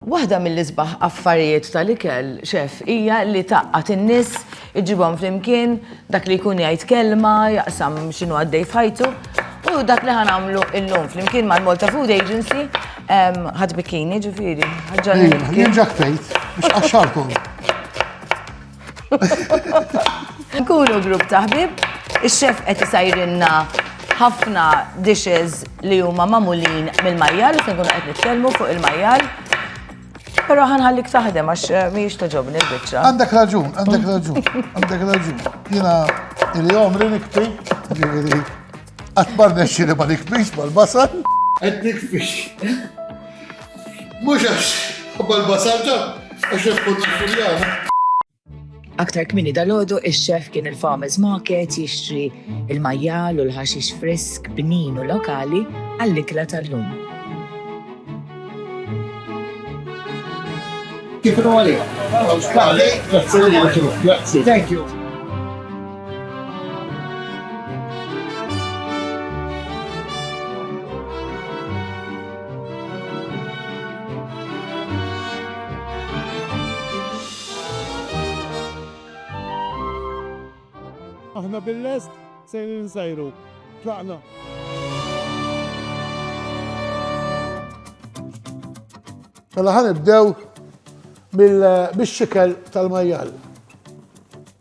Waħda mill-isbaħ affarijiet tal-ikel, Chef, hija li tgħaqqad in-nies, iġġibhom flimkien, dak li jkun jgħid kelma, jaqsam x'inhu għaddej f'ħajtu. U dak li ħa nagħmlu llum flimkien mal-Malta Food Agency, ħadd bikkini ġifieri, ħaġġarni l-bikkini. Jien ġa kfejt, biex tqaxxarkom. Nkunu grupp ta' ħbieb, ix-xef qed isajrilna ħafna dishes li huma magħmulin mill-majjal, se nkunu qed nitkellmu fuq il-majjal. Però ħa nħallik taħdem għax mhijiex togħġobni l-biċċa. Għandek raġun, għandek raġun, għandek raġun. Jiena li għomri nikpi, ġifieri qatt ma rnexxieli ma nikbix mal-basal. Qed nikbix. Mhux għax ħabba l-basalta, għax jaf kont Napuljana. Aktar kmini dal-ħodu, il-xef kien il-Farmers Market jixtri il-majjal u l-ħaxix frisk, bnin u lokali għall-ikla tal-lum. Kif għali? Grazzi. Thank you. Aħna bil-lest sejrin insajru. Tlaqna! Mela ħan ibdew bil-xikel tal-majjal.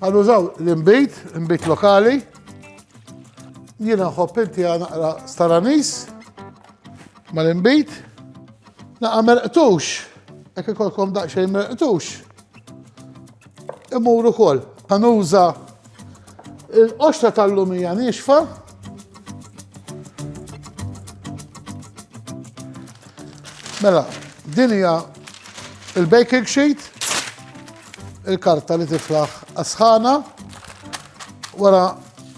Ħa nużaw l-inbid, inbid lokali. Jiena nħobb inti naqra staranis mal-inbid. Naqa merqtux, hekk ikolkom daqsxejn merqtux. Imur ukoll. Ħa nuża il-qoxra tal-lumija nixfa Mela, din hija il-baking sheet. Il-karta li tiflaħ għas-sħana. Wara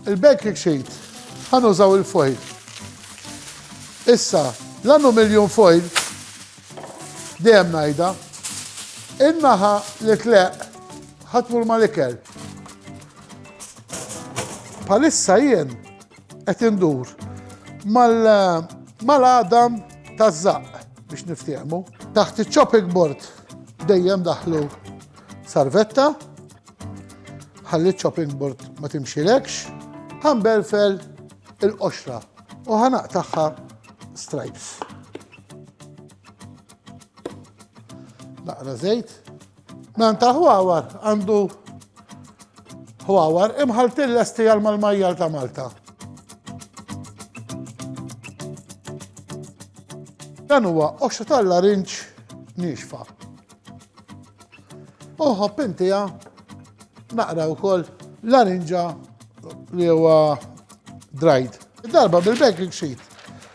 il-baking sheet ħanużaw il-foil. Issa, l-aluminium foil dejjem ngħidha in-naħa li tleq ħatmur mal-ikel. Palissa jien qed indur mal-għadam taż-żaqq biex niftehmu. Taħt iċ-chopping board dejjem daħlu sarvetta, ħalli chopping board ma timxilekx, ħambelfel il-qoxra u ħanaqtaħħa stripes. Naqra żejt, Dan ta' ħwawar għandu ħwawar imħaltin lesti għal mal-majjal ta' Malta. Dan huwa oxxa tal-larinġ nixfa. Uħob intija naqra wkoll larinġa li huwa dried. Darba bil-baking sheet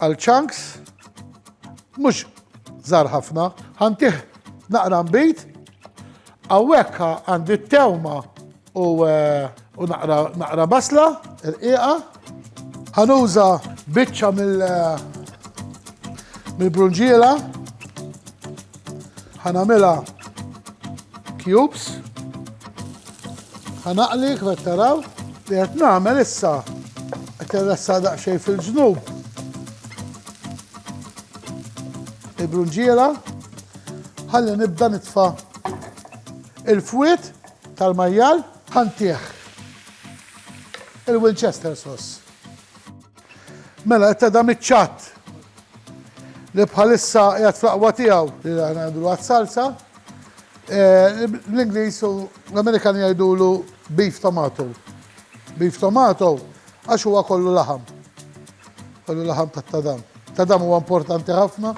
Għal chunks, mhux żgħar ħafna, ħantih naqra nbid, hawnhekk għandi t-tewma u eh, naqra basla, irqiqa, ħanuża biċċa mill- eh, mill-brunġiela, ħanamela cubes, Ħa naqli kif qed taraw li qed nagħmel issa qed irressa daqsxejn fil-ġnub. Il-brunġiera ħalli nibda nitfa' il-fwiet tal-majjal ħantih il-Winchester sauce. Mela, qed tadam iċ-ċat li bħalissa qiegħed fl-aqwa tiegħu li aħna ngħidu għas-salsa, Bl-Ingliż u l-Amerikani jgħidulu beef tomato. Beef tomato għax huwa kollu laħam. Kollu laħam tat-tadam. Tadam huwa importanti ħafna,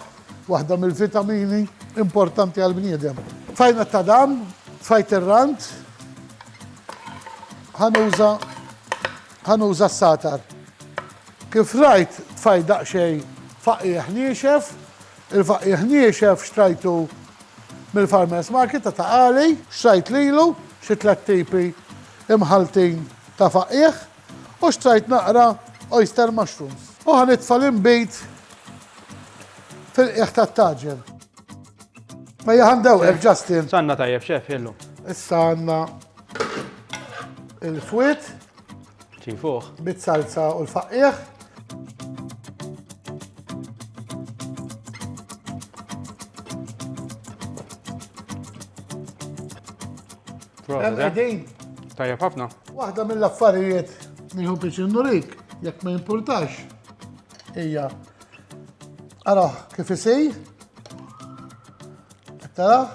waħda mill-vitamini importanti għall-bniedem. Tfajna t-tadam, tfajt ir-rant, ħanuża ħanuża s-satar. Kif rajt tfajt daqsxejn faqqiegħ niexef, Il-faqqiegħ niexef xtrajtu mill-farmers market ta' Ta' Qali. Xtrajt lilu xi tliet tipi mħalltin ta' faqqiegħ u xtrajt naqra oyster mushrooms. U ħa nitfa' l-inbid fil-qiegħ tat-taġen. Ejja ħa ndewqek, Justin. S'għandna tajjeb, Chef, illum? Issa għandna il-fwied. Ċin fuq. Bit-salsa u l-faqqieħ. Għedin. Tajja ħafna. Waħda mill-affarijiet li hu biex nurik, jekk ma jimpurtax, hija araħ kif isej, taraħ,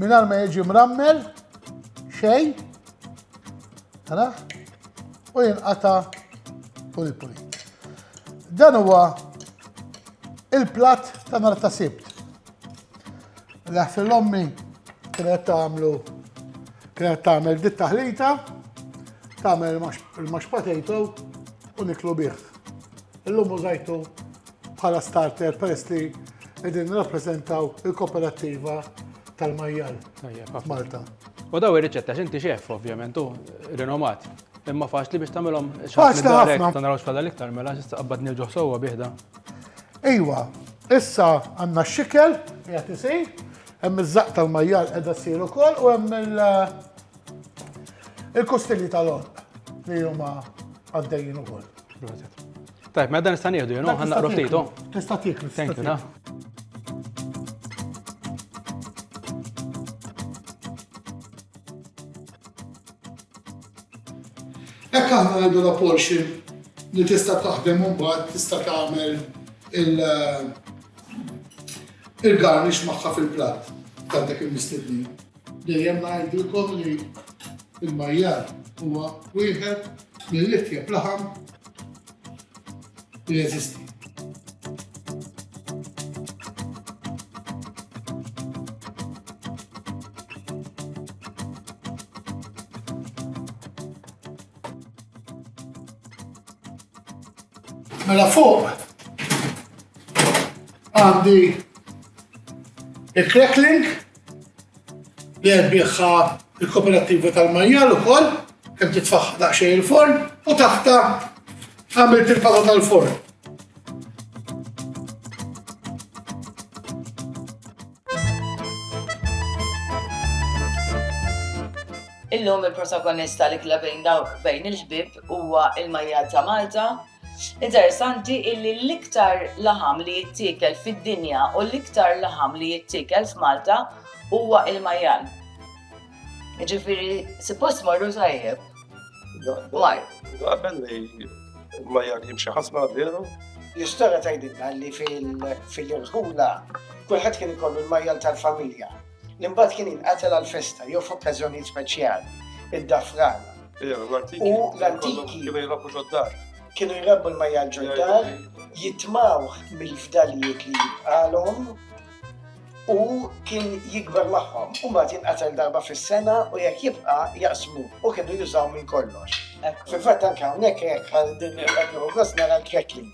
minn ma jiġi mrammel, xej, Tara? U jinqata puli puli. Dan huwa il-plat ta' nar ta' sibt. L-ħfil ommi kienet tagħmlu kienet tagħmel dit taħlita, tagħmel il-max potato u niklu bih. Illum użajtu Bħala starter peress li qegħdin nirrappreżentaw il-koperattiva tal-majjal Malta. U daw ir-riċetta x'inti xef ovvjament u rinomat. Imma faċli biex tagħmilhom xaħat ħafna. Ta' narawx bħala l-iktar mela x'issa qabad nirġgħu sewwa biħda. Ejwa, issa għandna x-xikel qiegħed isir, hemm iż-żaq tal-majjal qiegħda ssir ukoll u hemm il-kustilli tal-orq li huma għaddejjin ukoll. Tajb, ma mela dan nista' nieħdu jien, ħan naqra ftit. Oh. Tista' tieklu. Thank you, nah. Ekk aħna għandu la Porsche li tista' taħdem u mbagħad tista' tagħmel il-garnix eh, magħha fil-platt ta' dak il-mistednin. Dejjem ngħidilkom li l-majjal huwa wieħed mill-itjeb laħam li jeżisti. Mela fuq għandi il-crackling li erbieħha l-Koperattiva tal-Majjal ukoll, kemm titfaħħa daqsxejn il-forn u taħta għamilt il-pata tal-forn. Illum il-protagonista li klabejn dawk bejn il-ħbib huwa il-Majjal ta' Malta Interessanti illi l-iktar laħam li jittiekel fid-dinja u l-iktar laħam li jittiekel f'Malta huwa il-majjal. Ġifieri suppost morru tajjeb. Mar. Qabel li l-majjal jimxi ħafna veru? L-istorja tgħidilna li fil-irħula kulħadd kien ikollu l-majjal tal-familja. li mbagħad kien jinqatel għal festa jew f'okkażjonijiet speċjali, id-dafran. U l-antiki kienu jrabbu l-majja ġoddar, jitmaw mill-fdalijiet li jibqalhom u kien jikber magħhom. U mbagħad jinqatel darba fis-sena u jekk jibqa' jaqsmu u kienu jużaw minn kollox. Fil-fatt anke hawnhekk hekk għal din il-qedru nara l-crackling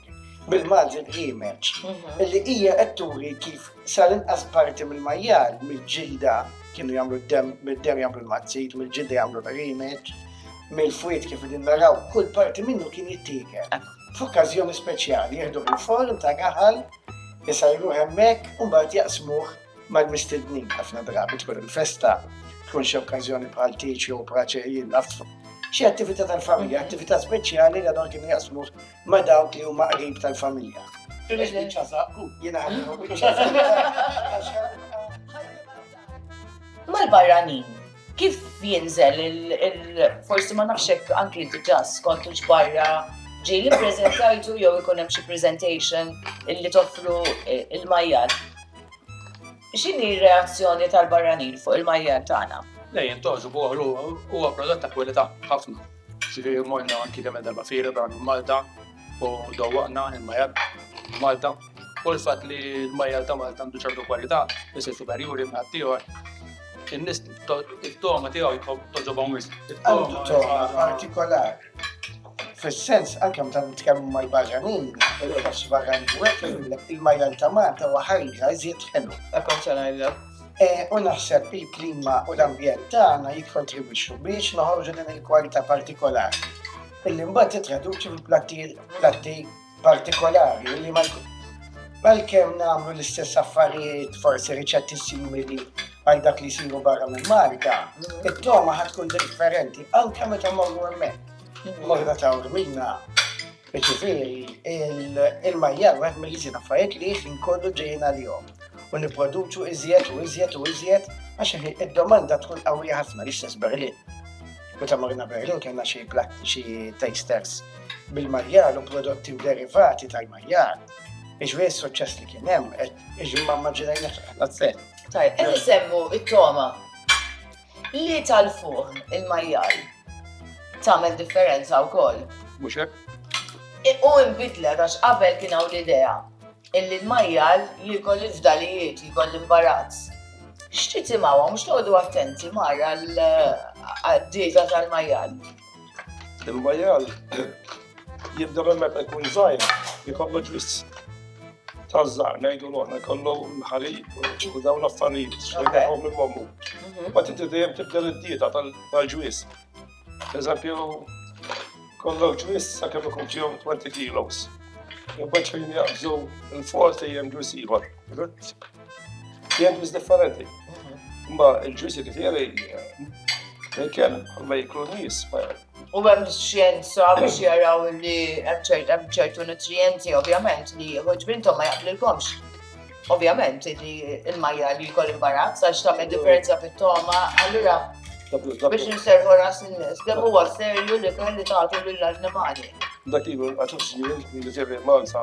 bil-Malti Grimeċ, mhm. li hija qed turi kif sal-inqas parti mill-majjal, mill-ġilda, kienu jagħmlu d-dem, mid-dem jagħmlu l-mazzit, mill-ġilda jagħmlu l-rimet, mill-fwiet kif din naraw, kull parti minnu kien jittiekel. F'okkażjoni speċjali jieħdu il-form ta' gaħal, jisajru hemmhekk u mbagħad jaqsmuh mal-mistednin ħafna drabi tkun il-festa, tkun xi okkażjoni bħal tiċi u praċe jillaf. Xi attività tal-familja, attività speċjali li għadhom kienu jaqsmuh ma' dawk li huma qrib tal-familja. Mal-barranin, kif jinżel il-forsi ma nafx hekk anki diġà skont barra ġej li preżentajtu jew ikun hemm xi presentation illi toffru eh, il-majjal. X'inhi r-reazzjoni tal-barranin fuq il-majjal tagħna? Lejn toġu boħlu huwa prodott ta' kwalità ħafna. Ġifieri morna anki kemm darba fira dan Malta u dowwaqna il-majjal Malta u l-fatt li l-majjal ta' Malta għandu ċertu kwalità isir superjuri minn ħaddieħor. In-nies it-togħma tiegħu jkoll toġobhom wisq. Għandu togħma partikolari. Fis-sens anke meta nitkellmu mal-barranin, il-ħoss barrani jgħidlek il-majjal ta' Malta huwa ħajja iżjed ħelu. Hekk kont se ngħidlek. U naħseb li l-klima u l-ambjent tagħna jikkontribwixxu biex noħorġu din il-kwalità partikolari. Illi mbagħad titraduċi fil-platti partikolari li mal-kem nagħmlu l-istess affarijiet forsi riċetti simili għal dak li jsiru barra minn Malta, it-toma ħatkun differenti anke meta morru hemmhekk. Morru ta' minna Jiġifieri, l-ilma hija wieħed mill-iżjed affarijiet li ħin kollu ġejjin għalihom u nipproduċu iżjed u iżjed u iżjed għax id-domanda tkun qawwija ħafna li stess Berlin. Meta morna Berlin kellna xi xi tasters bil-majjar u prodotti u derivati tal-majjar. Iġveri s-suċċess li kien hemm, iġveri ma maġġinajna xi ħadd Tajb, qed isemmu it-toma. Li tal-fuq il-majjal tagħmel differenza wkoll. Mhux hekk? U imbidlet għax qabel kien hawn l-idea illi l-majjal jiekol il-fdalijiet, jiekol l-imbarazz. X'titimgħu mhux toqgħodu attenti mara l-dieta tal-majjal. Il-majjal jibda minn meta jkun żgħir jkollu ġwis ta' żgħar ngħidu l-oħra jkollu l-ħalib u dawn l-affarijiet xejn minn mommu. Mhm. Ma tinti dejjem tibda l-dieta tal-ġwis. Per eżempju, kollok ġwis sa' kemm ikun fihom 20 kilos. Jibbaċ fejn jaqbżu l-forti jem ġwis ieħor. Jien bis differenti. Ma il-ġusi li tiegħi Mikel, ma jiklu nis, ma U għem xjenza biex jaraw li hemm ċertu nutrienti, ovvjament, li għuġ bintom ma jaqblilkomx. Ovvjament, li il-majja li jkoll imbarazz, għax ta' differenza fit-toma, allura biex nserħu ras il-nis, kemm huwa serju li kelli tagħtu lill-annimali. Dak ilu għaxux jien, li tirri mansa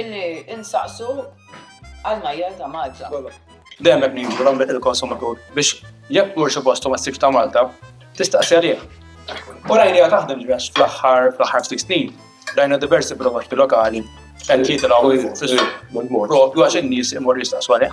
Illi insaqsu għal majjal ta' Malta. Dejjem qed ngħidu l-għamlet il-konsumatur biex jekk mur xi post u ma ssibx ta' Malta, tistaqsi għalih. U rajniha taħdem ġifieri għax fl-aħħar fl-aħħar ftit snin rajna diversi prodotti lokali qed jitilgħu fis-suq propju għax in-nies imorru jistaqsu għalih.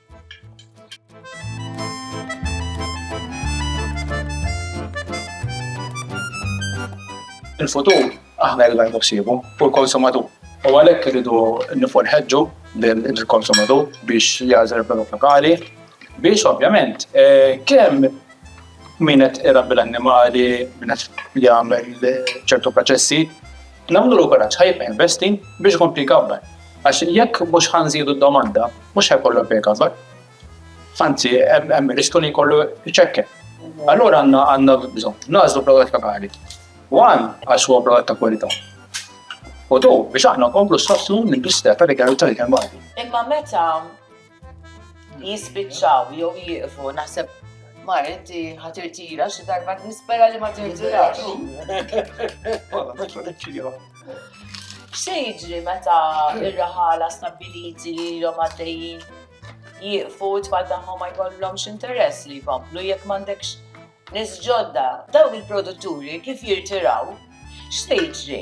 Il-futur aħna rridu ngħidu ħsiebu u l-konsumatur. U għalhekk irridu nifol ħeġġu lill-konsumatur biex jagħżel prodott lokali biex ovvjament eh, kemm min qed irabbi l-annimali, min qed jagħmel ċertu proċessi, Nagħmlulu kuraġġ ħa jibqa' jinvesti biex ikompli jkabbar. Għax jekk mhux ħa nżidu d-domanda, mhux ħa jkollu għalfejn ikabbar. Anzi, hemm ir-riskju li jkollu jċekken. Allura għandna bżonn nagħżlu prodott lokali. One, għax huwa prodott ta' kwalità. U two, biex aħna nkomplu nsostnu l-industrija tal-ikel u tal-ikel Malti. Imma meta jispiċċaw jew jieqfu naħseb ma inti ħatirtira xi darba nispera li ma tirtirax. Xejġri meta ir-raħala stabiliti li l-om għaddejjin jieqfu tfal tagħhom ma jkollhomx interess li jkomplu jekk m'għandekx nies ġodda, dawn il-produtturi kif jirtiraw, x'se jiġri?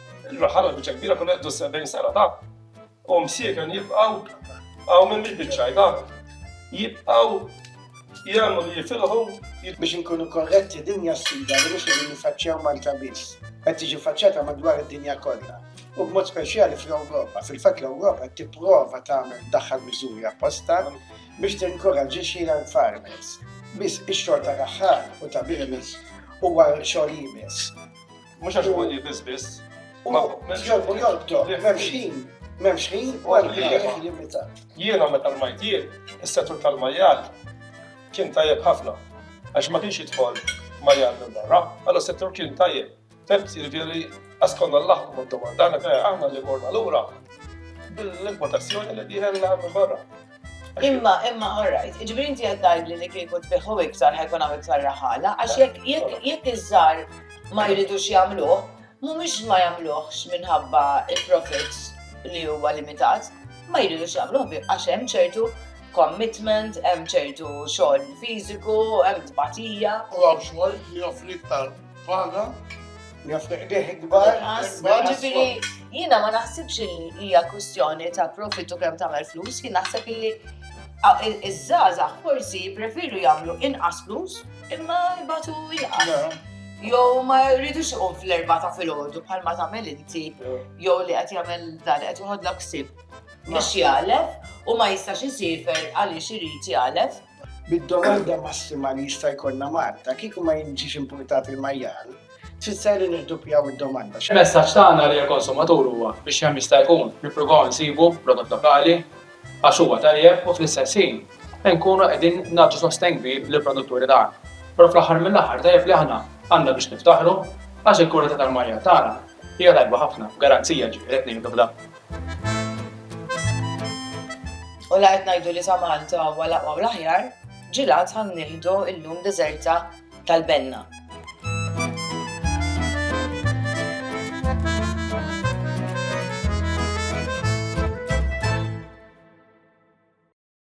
Il-raħal għal biċċa kbira kun għeddu 70 sena ta' u msieken jibqaw għaw minn bil biċċaj ta' jibqaw jgħamlu li jifilħu biex nkunu korretti dinja sfida li mhux qegħdin nifaċċjaw Malta biss, qed tiġi faċċata madwar id-dinja kollha. U b'mod speċjali fl-Ewropa, fil-fatt l-Ewropa qed tipprova tagħmel daħħal miżuri apposta biex tinkoraġġixxi l-farmers. Biss ix-xogħol ta' raħħar u ta' birnis huwa xogħol jibes. Mhux għax huwa li biss biss. Jolbu jolbu, m'hemmx ħin, m'hemmx ħin u għal ħin limitat. Jiena meta rmajt jien, is-settur tal-majjal kien tajjeb ħafna għax ma kienx jidħol majjal minn barra, għallu settur kien tajjeb. Femt jirvjeri għaskonna l-laħku ma domandana għana li morna l-ura bil-importazzjoni li diħen l-għam barra. Imma, imma, all right, iġbiri inti qed tgħidli li kieku tbiħħu iktar ħajkun hawn iktar raħala, għax jekk jekk jekk iż-żgħar ma jridux jagħmluh, mhumiex ma jagħmluhx minħabba il-profits li huwa limitat, ma jridux jagħmluh bi- għax hemm ċertu commitment, hemm ċertu xogħol fiżiku, hemm tbatija. U għaw xogħol li joffri iktar Waħda? Jaf deħ kbar. Ġifiri, jina ma naħsibx li hija kwistjoni ta' profitu kemm tagħmel flus, jien naħseb li iż-żaza forsi prefiru jagħmlu inqas flus imma jbatu inqas. Jow ma jridux iqum fl-erba ta' filgħodu bħal ma tagħmel inti, jow li qed jagħmel dan qed joħodlok ksib biex jgħalef u ma jistax isifer għaliex irid jgħalef. Bid-domanda massima li jista' jkollna Malta, kieku ma jiġix importat il-majjal, tfisser li nirduppjaw id-domanda. Il-messaġġ tagħna lejn il-konsumatur huwa biex kemm jista' jkun nippruvaw insibu prodott lokali għax huwa tajjeb u fl-istess ħin inkunu qegħdin nagħtu sostenn kbir lill-produtturi tagħna. Però fl-aħħar mill-aħħar tajjeb li aħna għandna biex niftaħru għax il-kwalità tal-majjal tagħna hija tajba ħafna, b'garanzija ġifieri qed ngħidu f'dan. U la qed ngħidu li ta' Malta huwa l-aqwa u l-aħjar, ġilat ħa nieħdu llum deżerta tal-benna.